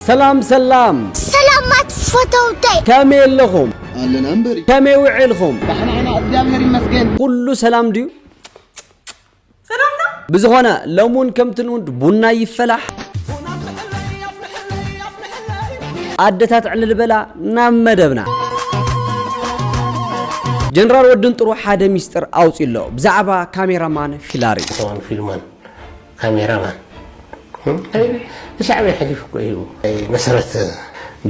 ሰላም ሰላም! ሰላማት ፈተውተይ! ከመይ ኣለኹም? ኣለና እምበሪ! ከመይ ውዒልኹም? ዳሕና ኢና እግዚኣብሔር ይመስገን! ኩሉ ሰላም ድዩ? ሰላም ነው! ብዝኾነ ሎሚ እውን ከምቲ ልሙድ ቡና ይፈላሕ፣ ኣደታት ዕልል በላ ናብ መደብና። ጀነራል ወድንጥሩ ሓደ ሚስጥር ኣውፂኡ ኣሎ ብዛዕባ ካሜራማን ፊላሪ። እቶም ፊልማን ካሜራ ማን ንሻዕብያ ሐሊፉ እኮ ሂቡ ናይ መሰረት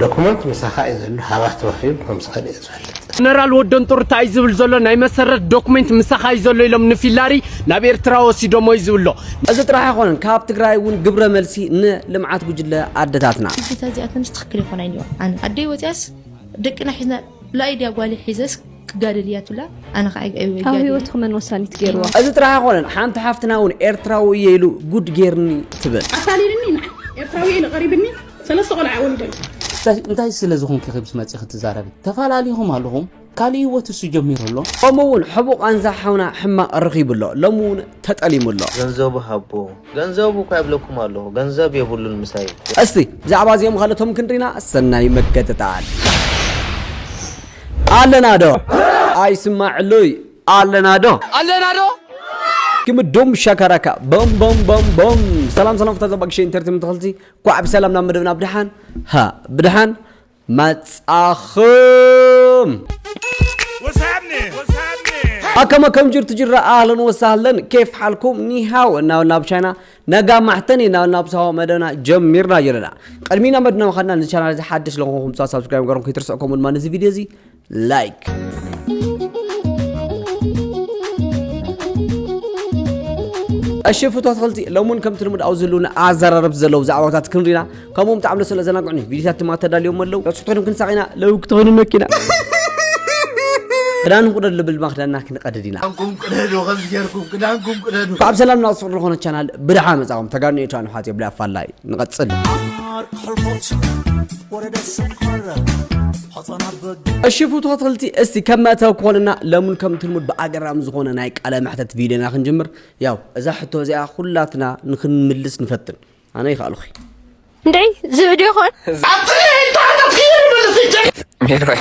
ዶኩመንት ምሳኻ እዩ ዘሎ ሃባ ተዋሂቡ ከም ዝኸደ እየ ዝፈልጥ። ጀነራል ወደንጦርታ እዩ ዝብል ዘሎ ናይ መሰረት ዶኩሜንት ምሳኻ እዩ ዘሎ ኢሎም ንፊላሪ ናብ ኤርትራ ወሲዶሞ እዩ ዝብሎ። እዚ ጥራሕ ኣይኮነን ካብ ትግራይ እውን ግብረ መልሲ ን ልምዓት ጉጅለ ኣደታትና። ኣዴታት እዚኣተንስ ትክክል ኣይኮናይን እዩዋ ኣነ ኣደይ ወፅያስ ደቅና ሒዝና ላእይ ድያ ጓልይ ሒዘስ ክጋደል እያ ትብላ ኣነ ከኣ ኣይጋደልን። ኣብ ሂወትኪ መን ወሳኒት ጌርዋ? እዚ ጥራሕ ኣይኮነን ሓንቲ ሓፍትና ውን ኤርትራዊ እየ ኢሉ ጉድ ጌርኒ ትብል። ኣታሊልኒ ንዓይ ኤርትራዊ እየ ኢሉ ቀሪብኒ ሰለስተ ቆልዓ ወሊደ ኣሎ። እስከ እንታይ ስለ ዝኮንኪ ከምዚ መጺኪ ትዛረቢ ተፋላሊኩም ኣለኩም ካልእ ሂወት እሱ ጀሚሩ ኣሎ። ከምኡ ውን ሕቡእ ቃንዛ ሓውና ሕማቅ ረኪቡ ኣሎ ሎሚ ውን ተጠሊሙ ኣሎ። ገንዘቡ ሃቦ ገንዘቡ እኳ ይብለኩም ኣሎ ገንዘብ የብሉን ምሳይ። እስቲ ብዛዕባ እዚኦም ኻልኦቶም ክንሪና ሰናይ መገጥጣል። ኣለና ዶ ኣይስማዕሉይ ኣለና ዶ። ኣለና ዶ። ግም ዱም ሻካራካ ቦም ቦም ቦም ቦም ሰላም ሰላም ፍታ ዘባግሸ ኢንተርቴመንት ተኸልቲ ኳዕ ብሰላም ናብ መደብና ብድሓን ሃ ብድሓን መጻኹም። What's happening? What's happening? ኣከም ኣከም ጅርቱ ጅራ ኣህለን ወሳህለን ኬፍ ሓልኩም ኒሃው እናበልና ኣብ ቻይና ነጋ ማሕተን እናበልና ኣብ ሳዋ መደብና ጀሚርና ኣለና ቅድሚና መድና ምኻድና ንቻናል እዚ ሓድሽ ለኾንኩም ሳ ሳብስክራይብ ገርኩም ከይትርስዑ ከምኡ ድማ ነዚ ቪድዮ እዚ like እሺ ፍቶ ኣትክልቲ ሎሚ እውን ከምቲ ልሙድ ኣብዚ ህልውና ኣዘራረብቲ ዘለዉ ዛዕባታት ክንሪና ከምኡ ብጣዕሚ ደስ ስለዘናግዑኒ ቪድዮታት ድማ ተዳልዮም ኣለዉ ረብሱ ኮይኖም ክንሳቕ ኢና ለው ክትኾኑ መኪና ክዳን ቁደድ ልብል ድማ ክዳንና ክንቀድድ ኢና ካብ ሰላም ናብ ዝኾነ ቻናል ብድሓ መፃኹም ተጋኑ ኤርትራን ሓት የብላ ኣፋላይ ንቐጽል። እሺ ፍትዎ ተኸታተልቲ እስቲ ከም መእተዊ ክኾነና ለሙን ከም ትልሙድ ብኣገራሚ ዝኾነ ናይ ቃለ መሕተት ቪድዮና ክንጅምር ያው እዛ ሕቶ እዚኣ ኩላትና ንክንምልስ ንፈትን ኣነ ይኸኣልኹ እንድዒ ዝብድ ይኾን ሜሮይ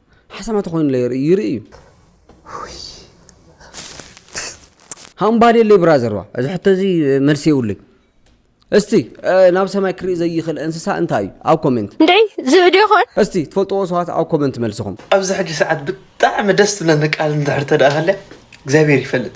ሓሰማ ተኾይኑለ ይርኢ ይርኢ እዩ ሃምባዴለይ ብራዘርዋ እዚ ሕቶ እዚ መልሲ የብሉይ እስቲ ናብ ሰማይ ክርኢ ዘይኽእል እንስሳ እንታይ እዩ ኣብ ኮሜንት እንድዒ ዝብዲ ይኾን እስቲ ትፈልጥዎ ሰባት ኣብ ኮሜንት መልስኹም ኣብዚ ሕጂ ሰዓት ብጣዕሚ ደስ ትብለኒ ቃል እንድሕር ተደኣ ሃልያ እግዚኣብሔር ይፈልጥ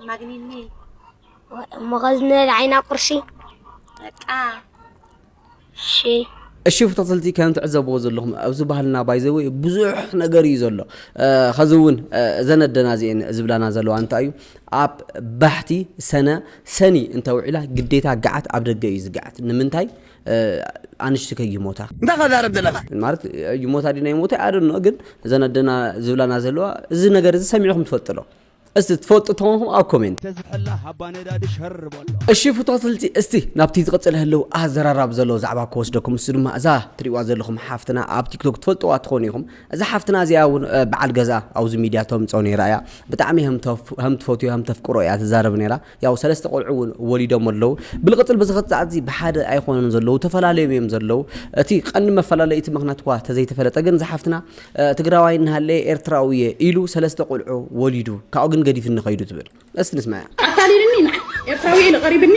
ኣማግኒኒ መኸዝነ ዓይና ቁርሲ በቃ ሺ እሺ ተኸታተልቲ ከም ትዕዘብዎ ዘለኹም ኣብዚ ባህልና ባይዘወ ብዙሕ ነገር እዩ ዘሎ ከዚ እውን እዘን ኣደና እዚአን ዝብላና ዘለዋ እንታይ እዩ ኣብ ባሕቲ ሰነ ሰኒ እንተውዒላ ግዴታ ገዓት ኣብ ደገ እዩ ዝገዓት ንምንታይ ኣንሽቲ ከይሞታ እንታይ ከዛረብ ዘለካ ማለት ይሞታ ዲና ይሞታ ኣደኖ ግን እዘን ኣደና ዝብላና ዘለዋ እዚ ነገር እዚ ሰሚዕኹም ትፈልጥሎ እስቲ ትፈልጡ ተማኹም ኣብ ኮሜንት ተዝሕላ ሃባ ነዳዲ ሸር በሎ እሺ ፍቶ ስልቲ እስቲ ናብቲ ዝቕፅል ህልው ኣዘራራብ ዘለዎ ዛዕባ ክወስደኩም እሱ ድማ እዛ ትሪእዋ ዘለኹም ሓፍትና ኣብ ቲክቶክ ትፈልጥዋ ትኾኑ ኢኹም እዛ ሓፍትና እዚኣ እውን በዓል ገዛ ኣብዚ ሚድያ ተምፅኦ ነይራ እያ ብጣዕሚ ሃም ትፈትዮ ሃም ተፍቅሮ እያ ትዛረብ ነይራ ያው ሰለስተ ቆልዑ እውን ወሊዶም ኣለው። ብልቕፅል ብዝኸት ሰዓትዚ ብሓደ ኣይኾነን ዘለው ተፈላለዮም እዮም ዘለው። እቲ ቀንዲ መፈላለዩ እቲ ምክንያት እኳ ተዘይተፈለጠ ግን ዝሓፍትና ትግራዋይ እናሃለየ ኤርትራዊ እየ ኢሉ ሰለስተ ቆልዑ ወሊዱ ካብኡ ግን ገዲፍኒ ከይዱ ትብል እስቲ ንስማያ። ኣታሊልኒ ንዓይ ኤርትራዊ ኢሉ ቀሪብኒ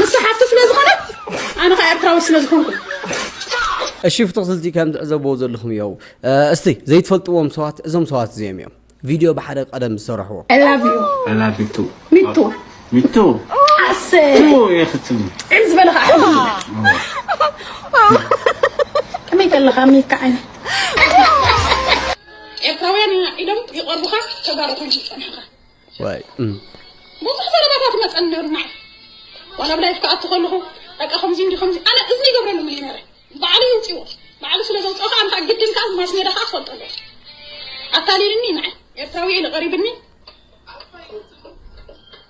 ንሳ ሓፍቱ ስለ ዝኾነት ኣነ ከ ኤርትራዊ ስለ ዝኾንኩ። እሺ ፍትኽትልቲ ከም ትዕዘብዎ ዘለኹም እዮው እስቲ ዘይትፈልጥዎም ሰባት እዞም ሰባት እዚኦም እዮም ቪድዮ ብሓደ ቀደም ዝሰረሕዎ ከመይ ከለካ ሚካ ዓይነት ኤርትራውያን ኢና ኢሎም ይቐርቡኻ ተጋሩ ኮንካ ዝፀናሕኻ ብዙሕ ዘረባታት ይመጸኒ ነይሩ ንዓይ ዋላ ኣብ ላይፍ ክኣቱ ከለኹ በቃ ከምዚ እንዲ ከምዚ ኣነ እዝኒ ይገብረሉም እዩ ነይረ ባዕሉ ይውጽዎ ባዕሉ ስለ ዘውጽኦ ከዓ እንታ ግድን ከዓ ማስ ሜዳ ከዓ ክፈልጦ ኣለዎ ኣታሊልኒ ንዓይ ኤርትራዊ እየ ኢሉ ቀሪብኒ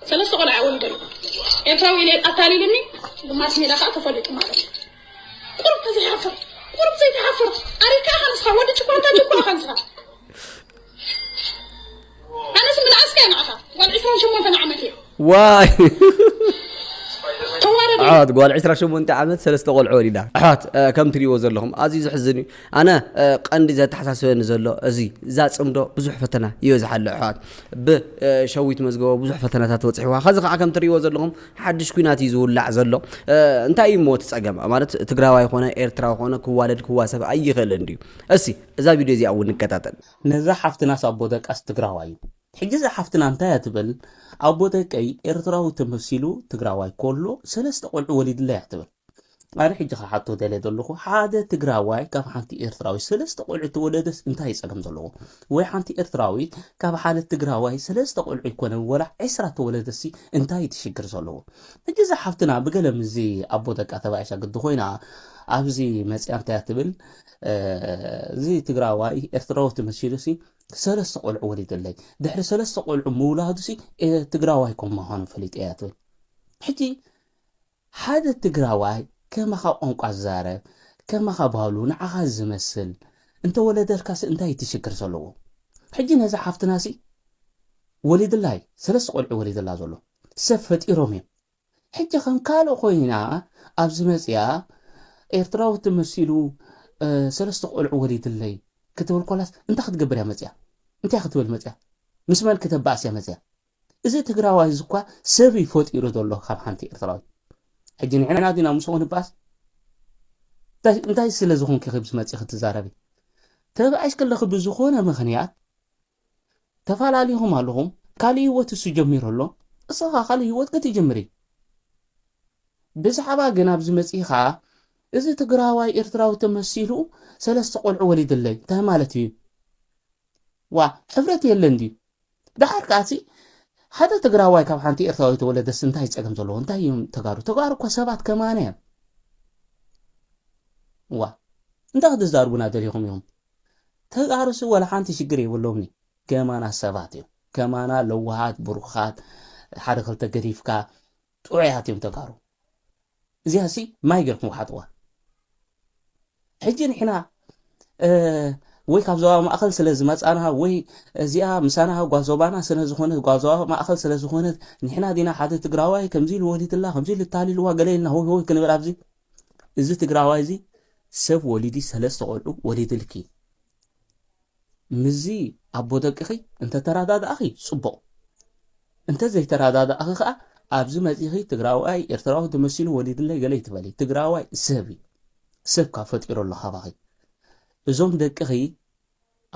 ሰለስተ ቆልዓ እየ ወሊደ ኣለኹ ኤርትራዊ ኢለ ኣታሊልኒ ብማስ ሜዳ ከዓ ተፈሊጡ ማለት እዩ ቁርብ ተዘይሓፍር ቁርብ ዘይተሓፍር ኣሪካ ኢኻ ንስኻ ወዲ ጭኳንታ ጭኳ ኢኻ ንስኻ ኣነስ ምንኣስካ እየ ንዓኻ ጓል ዕስራን ሸሞንተን ዓመት እየ ዋይ ተዋረድ ኣሕዋት ጓል 28 ዓመት ሰለስተ ቆልዑ ወሊዳ ኣሕዋት እ፣ ከም ትሪእዎ ዘለኹም ኣዝዩ ዘሕዝን እዩ ኣነ እ፣ ቀንዲ ዘተሓሳስበኒ ዘሎ እዚ እዛ ፅምዶ ብዙሕ ፈተና ይበዝሓ ኣሎ ኣሕዋት ብሸዊት መዝገቦ ብዙሕ ፈተናታት ወፅሕዋ ከዚ ከዓ ከም ትሪእዎ ዘለኹም ሓድሽ ኩናት እዩ ዝውላዕ ዘሎ እ፣ እንታይ እዩ እሞ እቲ ፀገም ማለት ትግራዋይ ኮነ ኤርትራዊ ኮነ ክዋለድ ክዋሰብ ኣይኽእልን ድዩ እሲ እዛ ቪድዮ እዚኣ እውን ንከታተል። ነዛ ሓፍትናስ ኣቦ ደቃስ ትግራዋይ እዩ ሕጂ እዛ ሓፍትና እንታይ እያ ትብል ኣቦ ደቀይ ኤርትራዊ ተመሲሉ ትግራዋይ ኮሎ ሰለስተ ቆልዑ ወሊድለይ እያ ትብል ኣነ ሕጂ ክሓቶ ደልየ ዘለኹ ሓደ ትግራዋይ ካብ ሓንቲ ኤርትራዊት ሰለስተ ቆልዑ ተወለደስ እንታይ ጸገም ዘለዎ ወይ ሓንቲ ኤርትራዊት ካብ ሓደ ትግራዋይ ሰለስተ ቆልዑ ይኮነ ወላ ዕስራ ተወለደሲ እንታይ እቲ ሽግር ዘለዎ ሕጂ እዛ ሓፍትና ብገለ ምዚ ኣቦ ደቃ ተባኢሳ ግዲ ኮይና ኣብዚ መጽያ እንታይ ትብል እዚ ትግራዋይ ኤርትራዊ ተመሲሉሲ ሰለስተ ቆልዑ ወሊደለይ ድሕሪ ሰለስተ ቆልዑ ምውላዱሲ ትግራዋይ ከም ምዃኑ ፈሊጠ እያ ትብል ሕጂ ሓደ ትግራዋይ ከማኻ ቋንቋ ዝዛረብ ከማኻ ባህሉ ንዓኻ ዝመስል እንተወለደልካሲ እንታይ እቲ ሽግር ዘለዎ ሕጂ ነዛ ሓፍትናሲ ወሊድላይ ሰለስተ ቆልዑ ወሊድላ ዘሎ ሰብ ፈጢሮም እዮም ሕጂ ከም ካልእ ኮይና ኣብ ዝመጽኣ ኤርትራዊት ተመሲሉ ሰለስተ ቆልዑ ወሊድለይ ክትብል ኮላስ እንታይ ክትገብር እያ መጽኣ እንታይ ክትብል መጽኣ ምስ መን ክተባእስ እያ መጽኣ እዚ ትግራዋይ እዚ እኳ ሰብ እዩ ፈጢሩ ዘሎ ካብ ሓንቲ ኤርትራዊት ሕጂ ንሕና ዲና ምስኡ ክንባእስ እንታይ ስለ ዝኾንኪ ክብዚ መጽ ክትዛረቢ ተባዒሽ ከለኺ ብዝኾነ ምኽንያት ተፋላሊኹም ኣለኹም ካልእ ሂወት እሱ ጀሚሩ ኣሎ እስኻ ካልእ ሂወት ክትጅምሪ ብዝሓባ ግን ኣብዚ መጺኻ እዚ ትግራዋይ ኤርትራዊ ተመሲሉ ሰለስተ ቆልዑ ወሊድለይ እንታይ ማለት እዩ ዋ ሕብረት የለን ድዩ ደሓር ከኣሲ ሓደ ትግራዋይ ካብ ሓንቲ ኤርትራዊ ተወለደስ እንታይ ጸገም ዘለዎ እንታይ እዮም ተጋሩ ተጋሩ እኮ ሰባት ከማነ እዮም ዋ እንታይ ክትዛርቡና ደሊኹም ኢኹም ተጋሩሲ ዋላ ሓንቲ ሽግር የብሎምኒ ገማና ሰባት እዮም ገማና ለዋሃት ብሩኻት ሓደ ክልተ ገዲፍካ ጥዑያት እዮም ተጋሩ እዚኣሲ ማይ ገርኩም ሓጥዋ ሕጂ ንሕና ወይ ካብ ዞባ ማእኸል ስለ ዝመፃና ወይ እዚኣ ምሳና ጓዞባና ስለ ዝኾነት ጓዞባ ማእኸል ስለ ዝኾነት ንሕና ዲና ሓደ ትግራዋይ ከምዚ ኢሉ ወሊትላ ከምዚ ኢሉ ታሊልዋ ገለ ኢልና ሆይ ሆይ ክንብል ኣብዚ እዚ ትግራዋይ እዚ ሰብ ወሊዲ ሰለስተ ቆልዑ ወሊድልኪ ምዚ ኣቦ ደቅኺ እንተተረዳዳእኺ ጽቡቕ እንተ ዘይተረዳዳእኺ ከኣ ኣብዚ መጺኺ ትግራዋይ ኤርትራዊ ተመሲሉ ወሊድለይ ገለ ይትበሊ ትግራዋይ ሰብ እዩ ሰብ ካብ ፈጢሩ ኣሎ ካባኺ እዞም ደቅኺ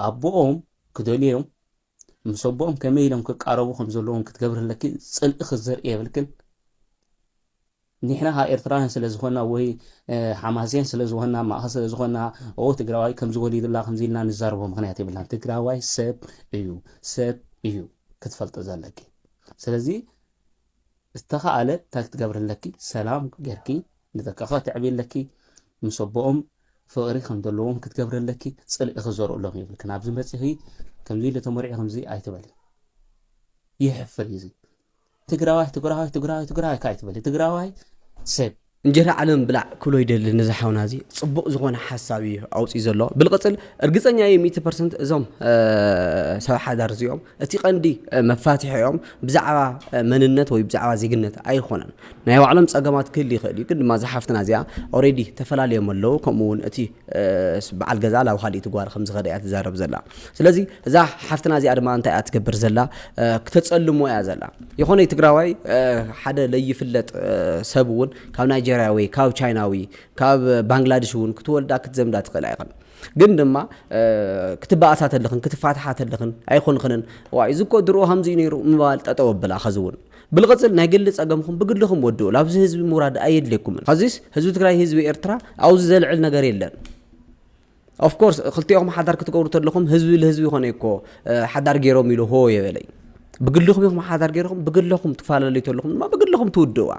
ኣቦኦም ክደልዮም ምስ ኣቦኦም ከመይ ኢሎም ክቃረቡ ከም ዘለዎም ክትገብርለኪ ጽልእኺ ዘርኢ የብልክን ኒሕና ከኣ ኤርትራውያን ስለ ዝኮና ወይ ሓማሴን ስለ ዝኮና ማእከል ስለ ዝኮና ኦው ትግራዋይ ከምዚ ወሊዱላ ከምዚ ኢልና ንዛረቦ ምክንያት የብልናን ትግራዋይ ሰብ እዩ ሰብ እዩ ክትፈልጢ ዘለኪ ስለዚ ዝተኻኣለ እንታይ ክትገብሪ ኣለኪ ሰላም ጌርኪ ንደቅኻ ከተዕብይ ኣለኪ ምስ ኣቦኦም ፍቕሪ ከም ዘለዎም ክትገብሪ ኣለኪ ፅልኢ ክዘርእሎም የብልክን ኣብዚ መፂኺ ከምዚ ኢሉ ተመሪዑ ከምዚ ኣይትበሊ ይሕፍር እዩ እዚ ትግራዋይ ትግራዋይ ትግራዋይ ትግራዋይ ካይ ትበል ትግራዋይ ሰብ እንጀራ ዓለም ብላዕ ክብሎ ይደሊ ነዚ ሓውና እዚ ፅቡቕ ዝኾነ ሓሳብ እዩ ኣውፅኡ ዘሎ ብልቕፅል እርግፀኛ እዩ ሚእቲ ፐርሰንት እዞም ሰብ ሓዳር እዚኦም እቲ ቀንዲ መፋትሒኦም ብዛዕባ መንነት ወይ ብዛዕባ ዜግነት ኣይኮነን ናይ ባዕሎም ፀገማት ክህል ይኽእል እዩ ግን ድማ ዝሓፍትና እዚኣ ኦሬዲ ተፈላለዮም ኣለዉ ከምኡ እውን እቲ በዓል ገዝኣ ናብ ኻልኢት ጓል ከም ዝኸደ እያ ትዛረብ ዘላ ስለዚ እዛ ሓፍትና እዚኣ ድማ እንታይ እያ ትገብር ዘላ ክተፀልሞ እያ ዘላ ይኾነ ትግራዋይ ሓደ ለይፍለጥ ሰብ እውን ካብ ናይጀርያዊ ካብ ቻይናዊ ካብ ባንግላደሽ እውን ክትወልዳ ክትዘምዳ ትኽእል ኣይኽን ግን ድማ ክትበኣሳ ተለኽን ክትፋትሓ ተለኽን ኣይኮንኽንን ዋይ እዚ እኮ ድሮ ከምዚ ነይሩ ምባል ጠጠው ኣብላ ኸዚ እውን ብልቕፅል ናይ ግሊ ፀገምኹም ብግልኹም ወድኡ ላብዚ ህዝቢ ምውራድ ኣየድልየኩምን ሐዚስ ህዝቢ ትግራይ ህዝቢ ኤርትራ ኣብዚ ዘልዕል ነገር የለን ኦፍኮርስ ክልቲኦኹም ሓዳር ክትገብሩ ተለኹም ህዝቢ ልህዝቢ ይኾነ እኮ ሓዳር ገይሮም ኢሉ ሆ የበለይ ብግልኹም ኢኹም ሓዳር ገይርኹም ብግልኹም ትፈላለዩ ተለኹም ድማ ብግልኹም ትውድእዋ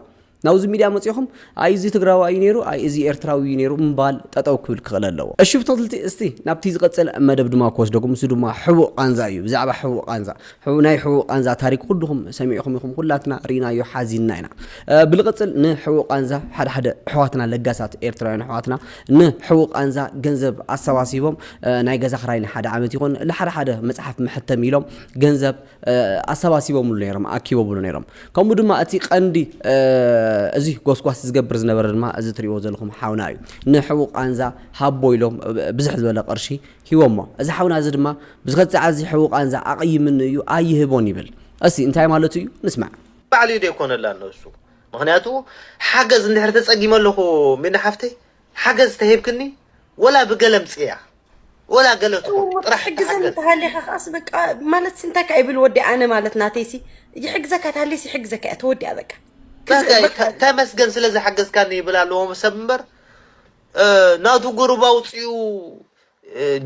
ናብዚ ሚድያ መፂእኹም ኣይ እዚ ትግራዋይ እዩ ነይሩ ኣይ እዚ ኤርትራዊ እዩ ነይሩ ምባል ጠጠው ክብል ክኽእል ኣለዎ። እሺ ብተክልቲ እስቲ ናብቲ ዝቅጽል መደብ ድማ ክወስደኩም ንሱ ድማ ሕቡእ ቃንዛ እዩ ብዛዕባ ሕቡእ ቃንዛ ሕቡእ ናይ ሕቡእ ቃንዛ ታሪክ ኩሉኩም ሰሚዕኩም ኢኩም ኩላትና ሪኢናዮ ሓዚንና ኢና ብልቅጽል ን ሕቡእ ቃንዛ ሓደ ሓደ ኣሕዋትና ለጋሳት ኤርትራውያን ኣሕዋትና ን ሕቡእ ቃንዛ ገንዘብ ኣሰባሲቦም ናይ ገዛ ክራይ ንሓደ ዓመት ይኩን ልሓደ ሓደ መጽሓፍ መሐተሚ ኢሎም ገንዘብ ኣሰባሲቦምሉ ነይሮም፣ ኣኪቦምሉ ነይሮም። ከምኡ ድማ እቲ ቀንዲ እዚ ጎስጓስ ዝገብር ዝነበረ ድማ እዚ ትሪእዎ ዘለኹም ሓውና እዩ። ንሕቡእ ቃንዛ ሃቦ ኢሎም ብዝሕ ዝበለ ቅርሺ ሂቦሞ። እዚ ሓውና እዚ ድማ ብዝኸት ሰዓት እዚ ሕቡእ ቃንዛ ኣቕይምኒ እዩ ኣይህቦን ይብል። እስቲ እንታይ ማለቱ እዩ ንስማዕ። ባዕሉ እዩ ደይኮነላ ንሱ ምኽንያቱ ሓገዝ እንድሕር ተጸጊመ ኣለኹ ሚና ሓፍተይ ሓገዝ ተሂብክኒ ወላ ብገለ ኣምጽእያ። ወላ ገለ ትኹን ጥራሕ ሕግዘኒ ተሃሊኻ ከዓስ በቃ ማለት እንታይ ከ ይብል ወዲ ኣነ ማለት ናተይሲ ይሕግዘካ ተሃሊስ ይሕግዘካ እያ ተወዲኣ በቃ ተመስገን ስለ ዝሓገዝካኒ ይብል ኣለዎም ሰብ እምበር ናቱ ጉሩብ ኣውፅኡ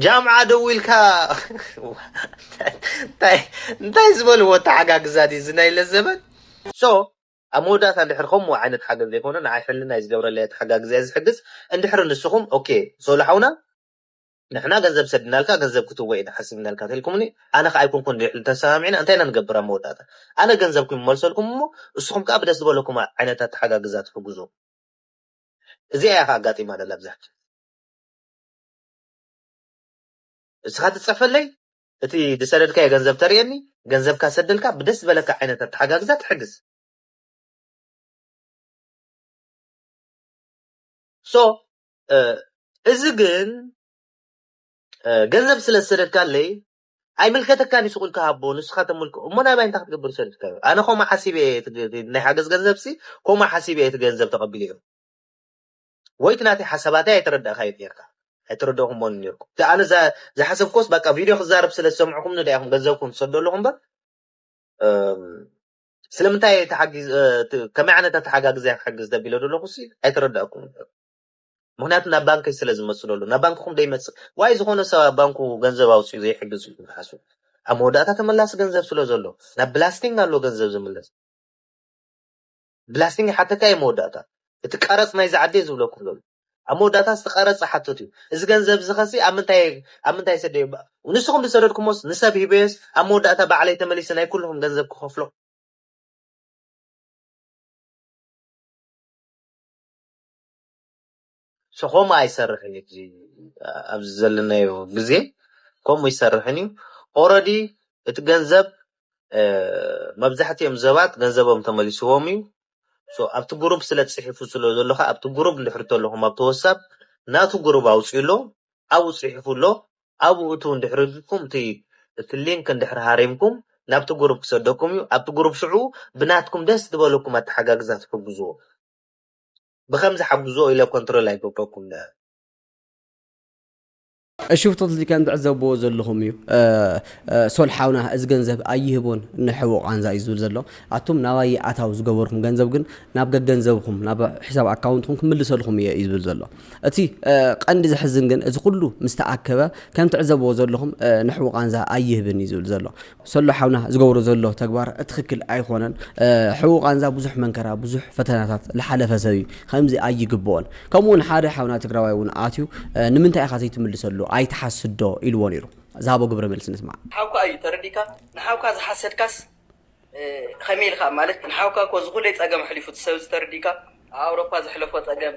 ጃምዓ ደው ኢልካ እንታይ ዝበልዎ ተሓጋግዛ ድዩ እዚ ናይለ ዘበን ሶ ኣብ መወዳእታ እንድሕር ከምኡ ዓይነት ሓገዝ ዘይኮነ ንዓይ ሕልናይ ዝገብረለይ ኣተሓጋግዛ'የ ዝሕግዝ እንድሕር ንስኹም ኦኬ ሶሎ ሓውና ንሕና ገንዘብ ሰድናልካ ገንዘብ ክትቦ ኢና ሓሲብናልካ ተልኩምኒ ኣነ ከኣ ኣይኮንኩን ልዕሊ ተሰማሚዕና እንታይ ኢና ንገብር ኣብ መወዳእታ ኣነ ገንዘብኩም ይመልሰልኩም እሞ ንስኹም ከኣ ብደስ ዝበለኩም ዓይነት ኣተሓጋግዛ ትሕግዙ እዚኣ እያ ከኣ ኣጋጢማ ዘላ ብዛሕቱ ንስኻ ትጽሕፈለይ እቲ ድሰደድካዮ ገንዘብ ተርእየኒ ገንዘብካ ሰደልካ ብደስ ዝበለካ ዓይነት ኣተሓጋግዛ ትሕግዝ። So እዚ ግን ገንዘብ ስለ ዝሰደድካለይ ኣይምልከተካን እዩ ስቁኢልካ ሃቦ ንስካ ተምልክ እሞ ናባይ እንታይ ክትገብር ሰደድካዮ ኣነ ከምኡ ሓሲበ እየ ናይ ሓገዝ ገንዘብሲ ከምኡ ሓሲበ እየ እቲ ገንዘብ ተቀቢለዮ ወይ እቲ ናተይ ሓሳባተይ ኣይተረዳእካዮን ኔርካ ኣይተረደእኩሞን ኔርኩም እቲ ኣነ ዝሓሰብኩዎስ ባቃ ቪድዮ ክዛረብ ስለ ዝሰምዕኩምኒ ደኣ ኢኩም ገንዘብኩም ትሰዱ ኣለኩ እምበር ስለምንታይ እየ ተሓጊዝ ከመይ ዓይነት ኣተሓጋግዘ እያ ክሕግዝ ተቢለ ዶ ኣለኩ ሲ ኣይተረዳእኩምን ምክንያቱ ናብ ባንከይ ስለ ዝመጽእ ዘሎ ናብ ባንክኩም ደይመጽእ ዋይ ዝኮነ ሰብ ኣብ ባንኩ ገንዘብ ኣውጽኡ ዘይሕግዝ ኢልኩም ትሓስቡ ኣብ መወዳእታ ተመላሲ ገንዘብ ስለ ዘሎ ናብ ብላስቲንግ ኣሎ ገንዘብ ዝምለስ ብላስቲንግ ይሓተካ ኢዩ መወዳእታ እቲ ቀረጽ ናይዚ ዓዲ ኢየ ዝብለኩም ዘሎ ኣብ መወዳእታ እቲ ቀረጽ ዝሓትት ኢዩ እዚ ገንዘብ እዚ ከሲ ኣብ ምንታይ ኣብ ምንታይ ሰደዮ ንስኩም ዝሰደድኩሞስ ንሰብ ሂበዮስ ኣብ መወዳእታ ባዕለይ ተመሊሰ ናይ ኩሉኩም ገንዘብ ክከፍሎ ሶ ከምኡ ኣይሰርሕን እዩ እዚ ኣብዚ ዘለናዮ ግዜ ከምኡ ኣይሰርሕን እዩ ኦረዲ እቲ ገንዘብ መብዛሕትኦም ሰባት ገንዘቦም ተመሊስዎም እዩ ሶ ኣብቲ ግሩፕ ስለ ትጽሒፉ ስለ ዘሎ ከኣ ኣብቲ ግሩፕ እንድሕር ተለኹም ኣብቲ ወሳብ ናቱ ግሩፕ ኣውጽኡ ኣሎ ኣብኡ ጽሒፉ ኣሎ ኣብኡ እትው እንድሕር ኢልኩም እቲ እቲ ሊንክ እንድሕር ሃሪምኩም ናብቲ ግሩፕ ክሰደኩም እዩ ኣብቲ ግሩፕ ሽዑ ብናትኩም ደስ ዝበለኩም ኣተሓጋግዛ ትሕግዝዎ ብከምዚ ሓግዝዎ ኢለ ኮንትሮል ኣይገብረኩን ዳኣ። እሺ ፍቶት እዚ ከም ትዕዘብዎ ዘለኹም እዩ ሶል ሓውና እዚ ገንዘብ ኣይህቦን ንሕቡእ ቃንዛ እዩ ዝብል ዘሎ ኣቱም ናባይ ይኣታው ዝገበርኩም ገንዘብ ግን ናብ ገገንዘብኹም ናብ ሕሳብ ኣካውንትኩም ክምልሰልኹም እየ እዩ ዝብል ዘሎ እቲ ቀንዲ ዘሕዝን ግን እዚ ኩሉ ምስ ተኣከበ ከም ትዕዘብዎ ዘለኹም ንሕቡእ ቃንዛ ኣይህብን እዩ ዝብል ዘሎ ሰሎ ሓውና ዝገብሮ ዘሎ ተግባር ትኽክል ኣይኾነን ሕው ቃንዛ ብዙሕ መንከራ ብዙሕ ፈተናታት ልሓለፈ ሰብ እዩ ከምዚ ኣይግብኦን ከምኡ ውን ሓደ ሓውና ትግራዋይ ውን ኣትዩ ንምንታይ ኢኻ ዘይትምልሰሉ ኣይትሓስዶ ኢልዎ ነይሩ ዝሃቦ ግብረ መልሲ ንስማዕ ሓውካ እዩ ተረዲካ ንሓውካ ዝሓሰድካስ ከመይ ኢልካ ማለት ንሓውካ እኮ ዝኹለይ ፀገም ኣሕሊፉ እቲ ሰብ እዚ ተረዲካ ኣብ ኣውሮፓ ዘሕለፎ ፀገም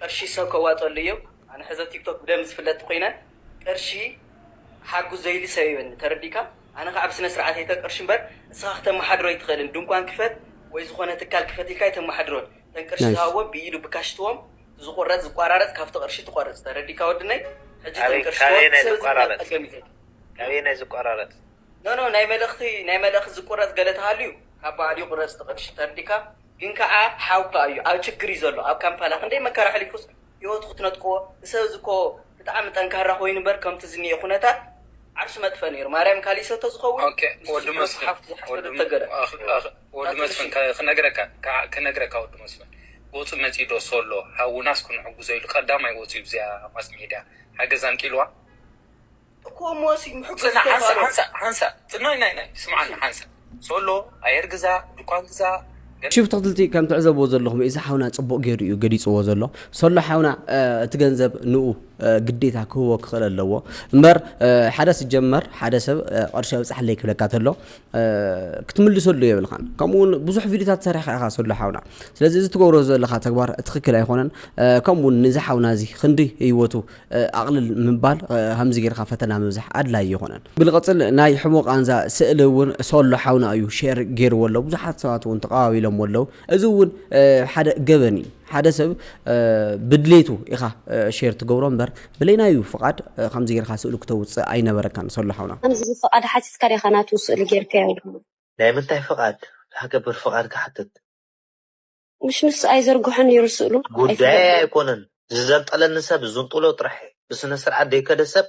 ቅርሺ ሰብ ከዋጸሉ እዮ ኣነ ሕዚ ኣብ ቲክቶክ ብደንቢ ዝፍለጥ ተኮይነ ቅርሺ ሓጉ ዘይሊ ሰብ የብልኒ ተረዲካ ኣነ ካኣ ብስነ ስርዓት እየ ተቅርሺ እምበር እስኻ ክተማሓድሮ ኣይትክእልን ድንኳን ክፈት ወይ ዝኮነ ትካል ክፈት ኢልካ ኣይተማሓድሮን ተን ቅርሺ Nice። ዝሃብዎም ብኢዱ ብካሽ ትዎም እቲ ዝቁረጽ ዝቋራረጽ ካብቲ ቅርሺ ትቆርጽ ተረዲካ ወድነይ ሕጂ ተን ቅርሺ ትዎም እቲ ሰብ እዚ ናብ ጸገም እዩ ዘእትው ካበየናይ ዝቋራረጽ። ኖኖ ናይ መልእክቲ ናይ መልእክት ዝቁረጽ ገለ ተሃልዩ ካብ ባዕሉ ይቁረጽ እቲ ቅርሺ ተርዲካ። ግን ከኣ ሓውካ እዩ ኣብ ችግር እዩ ዘሎ ኣብ ካምፓላ ክንደይ መከራ ኣሕሊፉስ ሂወቱ ክትነጥቅዎ ንሰብ እዚ እኮ ብጣዕሚ ጠንካራ ኮይኑ እምበር ከምቲ ዝንኤ ኩነታት ዓርሱ መጥፍኢ ነይሩ ማርያም ካሊእ ሰብተ ዝኸውን ንሱ ዝሕረሱ ሓፍቱ ዝሓስበ ተተገረ ክነግረካ ክነግረካ ወዲ መስፍን ወጹ መጺኡ ዶ ሶሎ ሓውናስ ክንሕጉዞ ኢሉ ቀዳማይ ወጺኡ ብዚኣ ማስ ሜድያ ሓገዝ ኣንቂልዋ። እኮ ሞሲ ምሕጎስ ጽናሕ ሓንሳእ ተኽኣሎ። ሓንሳእ ሓንሳእ ጽኖይ ናይ ናይ ስምዓኒ ሓንሳእ ሶሎ ኣየር ግዛ ድኳን ግዛ ገለ ሽብ ተክትልቲ ከም ትዕዘብዎ ዘለኹም እዚ ሓውና ጽቡቅ ጌሩ እዩ ገሊጽዎ ዘሎ ሶሎ ሓውና እቲ ገንዘብ ንኡ ግዴታ ክህቦ ክኽእል ኣለዎ እምበር ሓደ ስጀመር ሓደ ሰብ ቅርሺ ኣብጽሓለይ ክብለካ ተሎ ክትምልሰሉ የብልኻን ከምኡውን ብዙሕ ቪድዮታት ሰሪሕካ ኢኻ ሶሎ ሓውና ስለዚ እዚ ትገብሮ ዘለኻ ተግባር ትኽክል ኣይኾነን ከምኡውን ንዚ ሓውና እዚ ክንዲ ህይወቱ ኣቕልል ምባል ከምዚ ጌርካ ፈተና ምብዛሕ ኣድላይ ኣይኮነን። ብልቕጽል ናይ ሕቡእ ቃንዛ ስእሊ እውን ሶሎ ሓውና እዩ ሼር ጌርዎ ኣሎ ብዙሓት ሰባት እውን ተቐባቢሎሞ ኣለዉ። እዚ እውን ሓደ ገበን እዩ። ሓደ ሰብ ብድሌቱ ኢኻ ሼር ትገብሮ እምበር ብሌናዩ ፍቓድ ከምዚ ጌርካ ስእሉ ክተውጽእ ኣይነበረካን ሶሎ ሓውና። ከምዚ ፍቓድ ሓቲትካ ዲኻ ናቱ ስእሊ ጌርካዮ ድማ? ናይ ምንታይ ፍቓድ? ዝሓገብር ፍቓድ ክሓትት? ምሽ ንሱ ኣይዘርግሖን ነይሩ ስእሉ ጉዳየይ ኣይፍለጥን። ኣይኮነን ዝዘንጠለኒ ሰብ ዝንጥሎ ጥራሕ እየ ብስነ ስርዓት ዘይከደ ሰብ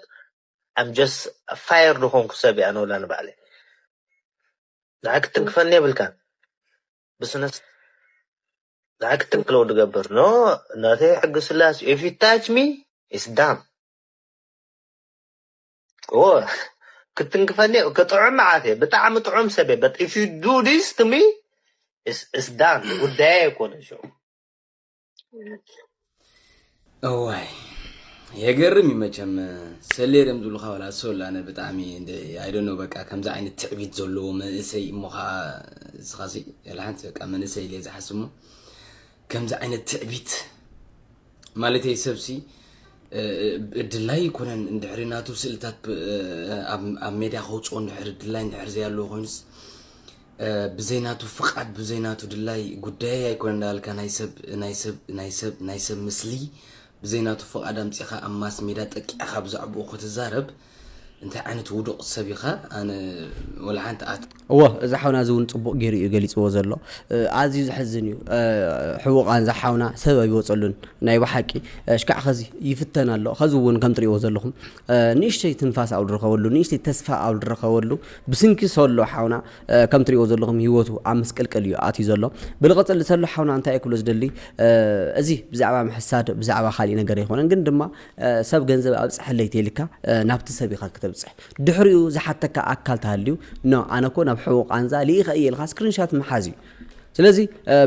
I'm just a fire ዝኾንኩ ሰብ እየ ኣነ ወላ ንባዕለይ ንዓይ ክትንክፈኒ የብልካን ብስነ ንዓይ ክትንክለው ድገብር ኖ ናተይ ሕጊ ስላስ if you touch me it's done እወ ክትንክፈኒ ክጥዑም መዓት እየ ብጣዕሚ ጥዑም ሰብ እየ በት ኢፍ ዩ ዱ ዲስ ቱ ሚ እስ ዳን ጉዳየ ኣይኮነ ሸ እዋይ የገርም እዩ መቸም ሰሌር እዮም ዝብሉካ ዋላ ሰላ ኣነ ብጣዕሚ ኣይደኖ በቃ ከምዚ ዓይነት ትዕቢት ዘለዎ መንእሰይ እሞ ከዓ እስኻሲ ሓንቲ በቃ መንእሰይ ኢለ ዝሓስብ እሞ ከምዚ ዓይነት ትዕቢት ማለተይ ሰብሲ ድላይ ኣይኮነን እንድሕሪ ናቱ ስእልታት ኣብ ሜድያ ከውፅኦ እንድሕር ድላይ እንድሕር ዘያለዎ ኮይኑስ ብዘይናቱ ፍቃድ ብዘይናቱ ድላይ ጉዳይ ኣይኮነ እንዳበልካ ናይ ሰብ ናይ ሰብ ናይ ሰብ ናይ ሰብ ምስሊ ብዘይናቱ ፍቃድ ኣምፂኻ ኣብ ማስ ሜዳ ጠቂዕኻ ብዛዕባኡ ክትዛረብ እንታይ ዓይነት ውዱቕ ሰብ ኢኻ ኣነ ወላ ሓንቲ ኣት እወ እዚ ሓውና እዚ እውን ፅቡቕ ገይሩ እዩ ገሊፅዎ ዘሎ ኣዝዩ ዘሕዝን እዩ ሕቡቓን ዝሓውና ሰብ ኣይወፀሉን ናይ ብሓቂ ሽካዕ ኸዚ ይፍተን ኣሎ ኸዚ እውን ከም ትሪእዎ ዘለኹም ንእሽተይ ትንፋስ ኣብ ዝረኸበሉ ንእሽተይ ተስፋ ኣብ ዝረኸበሉ ብስንኪ ሰሎ ሓውና ከም ትሪእዎ ዘለኹም ሂወቱ ኣብ ምስቅልቅል እዩ ኣትዩ ዘሎ ብልቐፅል ሰሎ ሓውና እንታይ ክብሎ ዝደሊ እዚ ብዛዕባ ምሕሳድ ብዛዕባ ካሊእ ነገር ኣይኮነን ግን ድማ ሰብ ገንዘብ ኣብጽሐለይ ተይልካ ናብቲ ሰብ ኢኻ ክተብጽሕ ድሕሪኡ ዝሓተካ ኣካል ተሃልዩ ኖ ኣነ እኮ ናብ ሕቡእ ቃንዛ ልኢኸ እየ ኢልካ ስክሪንሻት ምሓዝ እዩ ስለዚ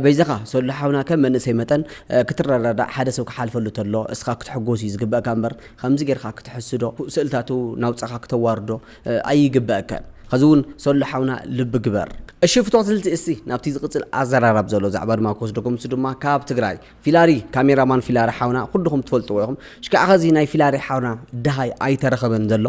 በይዛኻ ሰሉ ሓውና ከም መንእሰይ መጠን ክትረዳዳእ ሓደ ሰብ ክሓልፈሉ ተሎ እስኻ ክትሕጎስ እዩ ዝግበእካ እምበር ከምዚ ጌርካ ክትሕስዶ ስእልታቱ ናውፃኻ ክተዋርዶ ኣይግበእካን ከዚ እውን ሰሉ ሓውና ልቢ ግበር እሺ ፍቶት ስልቲ እስቲ ናብቲ ዝቅፅል ኣዘራራብ ዘሎ ዛዕባ ድማ ክወስደኩም እሱ ድማ ካብ ትግራይ ፊላሪ ካሜራ ማን ፊላሪ ሓውና ኩልኹም ትፈልጥዎ ኢኹም ሽካዕ ከዚ ናይ ፊላሪ ሓውና ደሃይ ኣይተረኸበን ዘሎ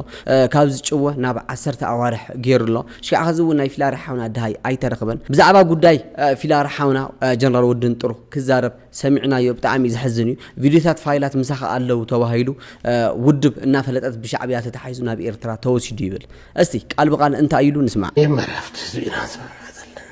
ካብ ዝጭወ ናብ ዓሰርተ ኣዋርሕ ገይሩ ኣሎ ሽካዕ ከዚ እውን ናይ ፊላሪ ሓውና ደሃይ ኣይተረኸበን ብዛዕባ ጉዳይ ፊላሪ ሓውና ጀነራል ወድን ጥሩ ክዛረብ ሰሚዕናዮ ብጣዕሚ ዘሕዝን እዩ ቪድዮታት ፋይላት ምሳኻ ኣለው ተባሂሉ ውድብ እናፈለጠት ብሻዕብያ ተታሒዙ ናብ ኤርትራ ተወሲዱ ይብል እስቲ ቃል ብቃል እንታይ ኢሉ ንስማዕ። የመራፍት ህዝቢና ዝመራ ዘለና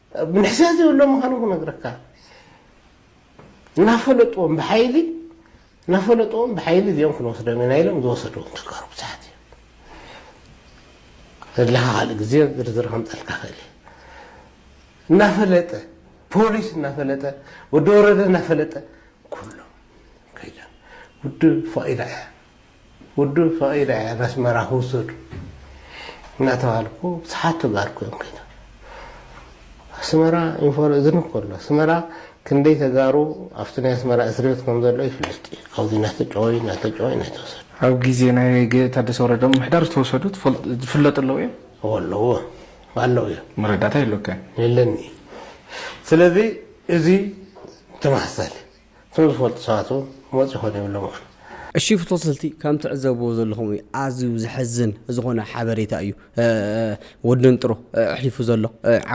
ምንሕስያ ዘይብሎም ምዃኖም ክነግረካ እናፈለጥዎም ብሓይሊ እናፈለጥዎም ብሓይሊ እዚኦም ክንወስዶም ኢና ኢሎም ዝወሰድዎም ተጋሩ ብዙሓት እዮም ዘለካ ካልእ ግዜ ዝርዝር ከምፀልካ ክእል እየ እናፈለጠ ፖሊስ እናፈለጠ ወዲ ወረደ እናፈለጠ ኩሎም ከይዶም ውድብ ፋኢዳ እያ ውዱብ ፈቒደ እያ ነስመራ ክውሰዱ እናተባህልኩ ብዙሓት ተጋሩ ክዮም ከይዶም ኣስመራ ኢንፎር እዝኒ እኮ ኣሎ ኣስመራ ክንደይ ተጋሩ ኣብቲ ናይ ኣስመራ እስርቤት ከም ዘሎ ይፍለጥ እዩ ካብዚ እናተጨወዩ እናተጨወዩ እናተወሰዱ ኣብ ግዜ ናይ ታደሰ ወረደ ምምሕዳር ዝተወሰዱ ዝፍለጡ ኣለዉ እዮም? እወ ኣለዉ ኣለዉ እዮም። መረዳእታ የሎካን? የለኒ እዩ። ስለዚ እዚ ተመሳሳሊ እቶም ዝፈልጡ ሰባት እውን ክመፁ ይኽእሉ የብሎም ውን። እሺ ፍቶሰልቲ ከም ትዕዘብዎ ዘለኹም እዩ ኣዝዩ ዘሕዝን ዝኾነ ሓበሬታ እዩ ወዲ ንጥሮ ኣሕሊፉ ዘሎ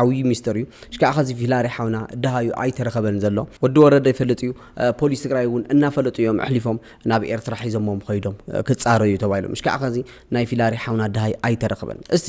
ዓብዩ ሚስጥር እዩ ሽካዕ ኸዚ ፊላሪ ሓውና ደሃዩ ኣይተረኸበን ዘሎ ወዲ ወረደ ይፈልጥ እዩ ፖሊስ ትግራይ እውን እናፈለጡ እዮም ኣሕሊፎም ናብ ኤርትራ ሒዞሞም ኸይዶም ክፃረዩ ተባሂሎም ሽካዕ ኸዚ ናይ ፊላሪ ሓውና ደሃይ ኣይተረኸበን እስቲ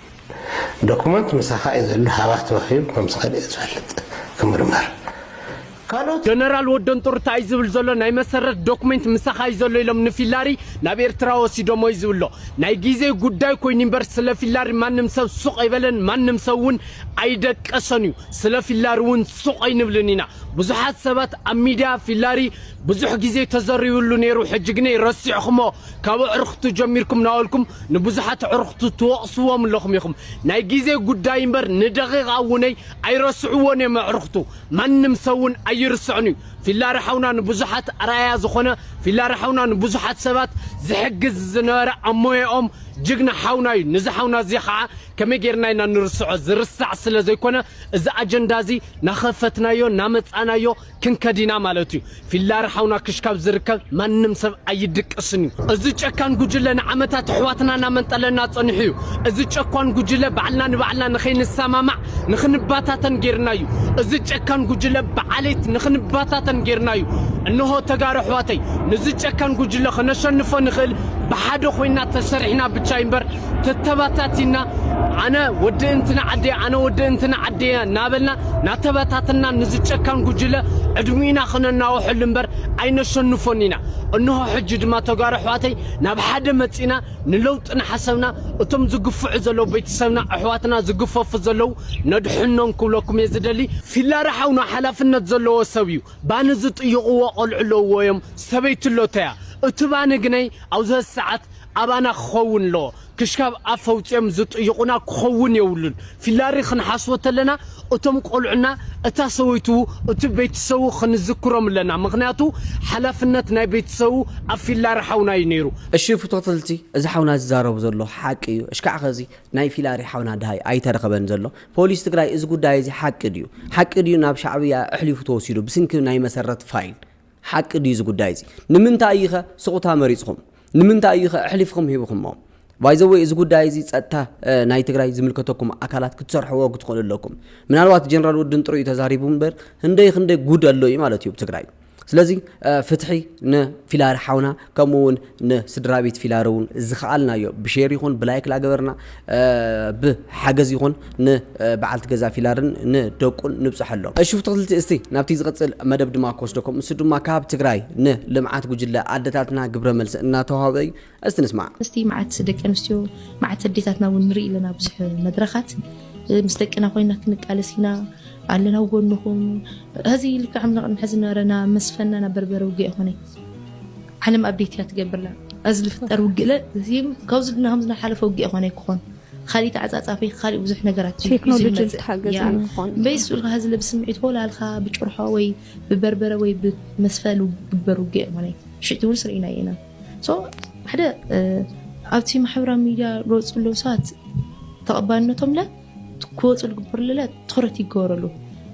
ዶኩመንት ምሳኻ እዩ ዘሎ ሃባ ተዋሂቡ ከም ዝኸደ እየ ዝፈልጥ ክምርመር ካልኦት ጀነራል ወደን ጡር ታይ እዩ ዝብል ዘሎ ናይ መሰረት ዶክሜንት ምሳኻ እዩ ዘሎ ኢሎም ንፊላሪ ናብ ኤርትራ ወሲዶሞ እዩ ዝብሎ ናይ ጊዜ ጉዳይ ኮይኑ እምበር ስለ ፊላሪ ማንም ሰብ ሱቕ ኣይበለን ማንም ሰብ እውን ኣይደቀሶን እዩ ስለ ፊላሪ እውን ሱቕ ኣይንብልን ኢና ብዙሓት ሰባት ኣብ ሚድያ ፊላሪ ብዙሕ ጊዜ ተዘሪብሉ ነይሩ ሕጂ ግነይ ረሲዕኹሞ ካብ ኣዕርኽቱ ጀሚርኩም ናበልኩም ንብዙሓት ኣዕርኽቱ ትወቕስዎም ኣለኹም ኢኹም። ናይ ግዜ ጉዳይ እምበር ንደቒቓ እውነይ ኣይረስዕዎን እዮም ኣዕርኽቱ። ማንም ሰብ እውን ኣይርስዕን እዩ። ፊላሪ ሓውና ንብዙሓት ኣርኣያ ዝኾነ፣ ፊላሪ ሓውና ንብዙሓት ሰባት ዝሕግዝ ዝነበረ ኣብ ሞያኦም ጅግና ሓውና እዩ። ነዚ ሓውና እዚ ኸዓ ከመይ ጌርና ኢና ንርስዖ? ዝርሳዕ ስለ ዘይኮነ እዚ ኣጀንዳ እዚ ናኸፈትናዮ ናመጻእናዮ ክንከድ ኢና ማለት እዩ ፊላር ሓውና ክሽ ካብ ዝርከብ ማንም ሰብ ኣይድቅስን እዩ እዚ ጨካን ጉጅለ ንዓመታት ኣሕዋትና ናመንጠለና ጸኒሑ እዩ እዚ ጨኳን ጉጅለ ባዕልና ንባዕልና ንኸይንሳማማዕ ንኽንባታተን ጌርና እዩ እዚ ጨካን ጉጅለ ብዓሌት ንኽንባታተን ጌርና እዩ እንሆ ተጋሩ ኣሕዋተይ ንዚ ጨካን ጉጅለ ከነሸንፎ ንኽእል ብሓደ ኮይና ተሰሪሕና ብቻ እዩ እምበር ተተባታቲና ኣነ ወዲ እንትና ዓደየ ኣነ ወዲ እንትና ዓደየ እናበልና ናተበታትና ንዚ ጨካን ጉጅለ ዕድሚና ክነናውሐሉ እምበር ኣይነሸንፎን ኢና እንሆ ሕጂ ድማ ተጋሩ ኣሕዋተይ ናብ ሓደ መፂና ንለውጢ ናሓሰብና እቶም ዝግፍዑ ዘለዉ ቤተሰብና ኣሕዋትና ዝግፈፉ ዘለዉ ነድሕኖም ክብለኩም እየ ዝደሊ ፊላረ ሓውና ሓላፍነት ዘለዎ ሰብ እዩ ባኒ ዝጥይቕዎ ቆልዑ ኣለውዎ እዮም ሰበይቱ እሎቶያ እቲ ባኒ ግነይ ኣብዘ ሰዓት ኣባና ክኸውን ኣለዎ ክሽካብ ኣፍ ኣውጺኦም ዝጥይቁና ክኸውን የብሉን ፊላሪ ክንሓስቦ ተለና እቶም ቆልዑና እታ ሰበይቱ እቲ ቤትሰቡ ክንዝክሮም ኣለና ምኽንያቱ ሓላፍነት ናይ ቤትሰቡ ኣብ ፊላሪ ሓውና እዩ ነይሩ እሺ ፍቶትልቲ እዚ ሓውና ዝዛረቦ ዘሎ ሓቂ እዩ እሽካዕ ከዚ ናይ ፊላሪ ሓውና ድሃይ ኣይተረኸበን ዘሎ ፖሊስ ትግራይ እዚ ጉዳይ እዚ ሓቂ ድዩ ሓቂ ድዩ ናብ ሻዕብያ እሕሊፉ ተወሲዱ ብስንኪ ናይ መሰረት ፋይል ሓቂ ድዩ እዚ ጉዳይ እዚ? ንምንታይ እዩ ከ ሱቕታ መሪጽኹም? ንምንታይ እዩ ከ ኣሕሊፍኹም ሂብኹሞ? ባይ ዘ ወይ እዚ ጉዳይ እዚ ጸጥታ ናይ ትግራይ ዝምልከተኩም ኣካላት ክትሰርሕዎ ክትኽእሉ ኣለኩም። ምናልባት ጀነራል ወድን ጥሩይ ተዛሪቡ እምበር ህንደይ ክንደይ ጉድ ኣሎ እዩ ማለት እዩ ኣብ ትግራይ። ስለዚ ፍትሒ ንፊላሪ ሓውና ከምኡ ውን ን ስድራቤት ፊላሮ ውን ዝከኣልናዮ ብሼር ይኹን ብላይክ ላገበርና ብ ሓገዝ ይኹን ን በዓልቲ ገዛ ፊላርን ን ደቁን ንብጸሐሎም። እሺ ፍትክልቲ እስቲ ናብቲ ዝቅጽል መደብ ድማ ክወስደኩም እሱ ድማ ካብ ትግራይ ን ልምዓት ጉጅለ ኣደታትና ግብረ መልሲ እናተዋህበ እዩ እስቲ ንስማዕ። እስቲ መዓት ደቂ ኣንስትዮ መዓት ኣዴታትና ውን ንርኢ ኣለና ብዙሕ መድረኻት ምስ ደቅና ኮይና ክንቃለስ ኢና ኣለና ኣብ ጎንኹም። ሀዚ ልክዕ ም ንቅድሚ ሐዚ ዝነበረና መስፈናና በርበረ ውግእ ኣይኮነይ። ዓለም ኣቤት እያ ትገብርና ኣዚ ልፍጠር ውግእለ ካብዚ ድና ከምዚ ናሓለፈ ውግእ ይኾነ ክኾን ካሊእ ተዓፃፃፊ ካሊእ ብዙሕ ነገራት ቴክኖሎጂ ዝተሓገዘ ክኾን በይስ ብልካ ሀዚ ብስምዒት ወላልካ ብጭርሖ ወይ ብበርበረ ወይ ብመስፈል ግበር ውግእ ይኾነ ሽቲ እውን ስርኢና ኢና ሶ ሓደ ኣብቲ ማሕበራዊ ሚዲያ ዝወፅኡ ኣለዉ ሰባት ተቐባልነቶም ለ ክወፁ ዝግበርሉለ ትኩረት ይገበረሉ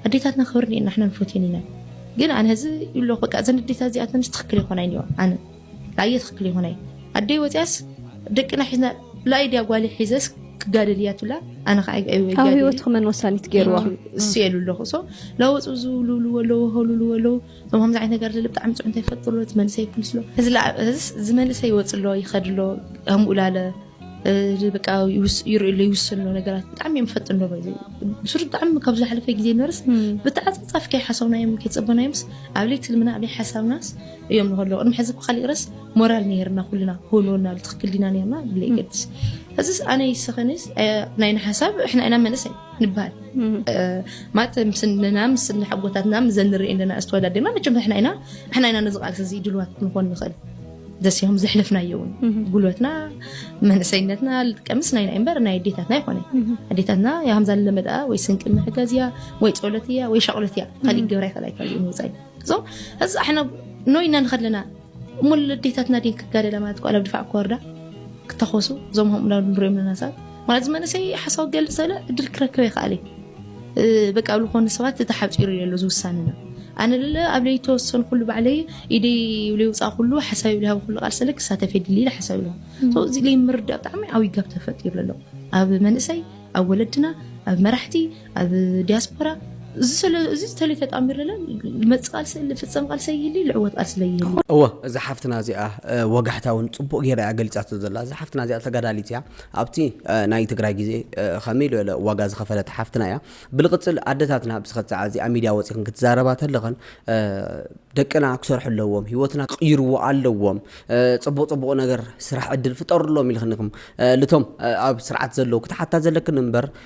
ኣዴታትና ክብሪ እኒኤና ንሕና ንፈትየን ኢና ግን ኣነ እዚ ይብሎ በቃ እዘን ኣዴታት እዚኣተንስ ትክክል ይኮናይ እኒኦ ኣነ ላየ ትክክል ይኮናይ ኣደይ ወፅያስ ደቅና ሒዝና ላየ ድያ ጓሊ ሒዘስ ክጋደል እያ ትብላ ኣነ ከዓ ኣብ ህይወትኩ መን ወሳኒት ገይርዋ እሱ የሉ ኣለኹ ሶ ለወፁ ዝብልብሉ ኣለዉ ሀሉሉ ኣለዉ እዞም ከምዚ ዓይነት ነገር ዘለ ብጣዕሚ ፅዑንታ ይፈጥሩ እቲ መንእሰይ ይኩንስሎ እዚ መንእሰይ ይወፅሎ ይኸድሎ ከምኡ ላለ በቃ ይርእሉ ይውስኑ ነገራት ብጣዕሚ እዮም ፈጥን ዶ ብሱር ብጣዕሚ ካብ ዝሓለፈ ግዜ ነርስ ብተዓፃፃፍ ከይሓሰብናዮም ከይፀበናዮምስ ኣብ ለይቲ ልምና ኣብ ሓሳብናስ እዮም ንከለዉ ቅድሚ ሕዚ ብካሊእ ረስ ሞራል ነርና ኩልና ክህልወና ትክክል ዲና ነርና ብለ ይገድስ ሕዝስ ኣነ ይስኸንስ ናይ ንሓሳብ ሕና ኢና መለስ ንበሃል ማለት ምስንና ምስ ሓጎታትና ምዘንርኢ ኣለና ዝተወዳደና መቸም ሕና ኢና ሕና ኢና ነዚ ቃልሲ እዚ ድልዋት ንኮን ንኽእል ደስዮም ዘሕለፍናዮ እውን ጉልበትና መንእሰይነትና ልጥቀምስ ናይ ናይ እምበር ናይ ኣዴታትና ይኮነ ኣዴታትና ከምዛ ለመዳ ወይ ስንቂ ምሕገዝ እያ ወይ ፀሎት እያ ወይ ሻቅሎት እያ ካሊእ ገብራ ይኽእል ኣይክእል እዩ ንወፃኢ ሶ እዚ ኣሕና ኖይና ንኸድ ኣለና እሞ ለዴታትና ድን ክጋደላ ማለት ኳ ኣብ ድፋዕ ክወርዳ ክተኸሱ እዞም ከምኡ ንሪኦም ኣለና ሰባት ማለት እዚ መንእሰይ ሓሳብ ክገልፅ ዘለ ዕድል ክረክብ ይኽኣል እዩ በቃ ኣብ ዝኾኑ ሰባት ተሓፂሩ እዩ ዘሎ ዝውሳንና ኣነ ለለ ኣብ ለይ ተወሰኑ ኩሉ ባዕለይ ኢደይ ብለይ ውፃእ ኩሉ ሓሳብ ብለይ ሃብ ኩሉ ቃል ሰለ ክሳተፍ የድሊ ኢለ ሓሳብ ኢለ እዚ ለይ ምርዳእ ብጣዕሚ ዓብይ ጋብ ተፈጢሩ ኣሎ ኣብ መንእሰይ ኣብ ወለድና ኣብ መራሕቲ ኣብ ዲያስፖራ እዚ ዝተለይ ተጣሚርለ ልመፅ ቃልሲ ልፍፀም ቃልሲ ይህሊ ልዕወት ቃልሲ ለይህሊ እወ እዛ ሓፍትና እዚኣ ወጋሕታ እውን ፅቡቅ ገይራ እያ ገሊፃቶ ዘላ እዛ ሓፍትና እዚኣ ተጋዳሊት እያ ኣብቲ ናይ ትግራይ ግዜ ከመይ ዝበለ ዋጋ ዝኸፈለት ሓፍትና እያ ብልቅፅል ኣደታትና ብስኸት ሰዓ እዚኣ ሚድያ ወፂኽን ክትዛረባ ተለኸን ደቅና ክሰርሑ ኣለዎም ሂወትና ክቕይርዎ ኣለዎም ፅቡቅ ፅቡቅ ነገር ስራሕ ዕድል ፍጠርሎም ኢልክንኩም ልቶም ኣብ ስርዓት ዘለዉ ክትሓታ ዘለክን እምበር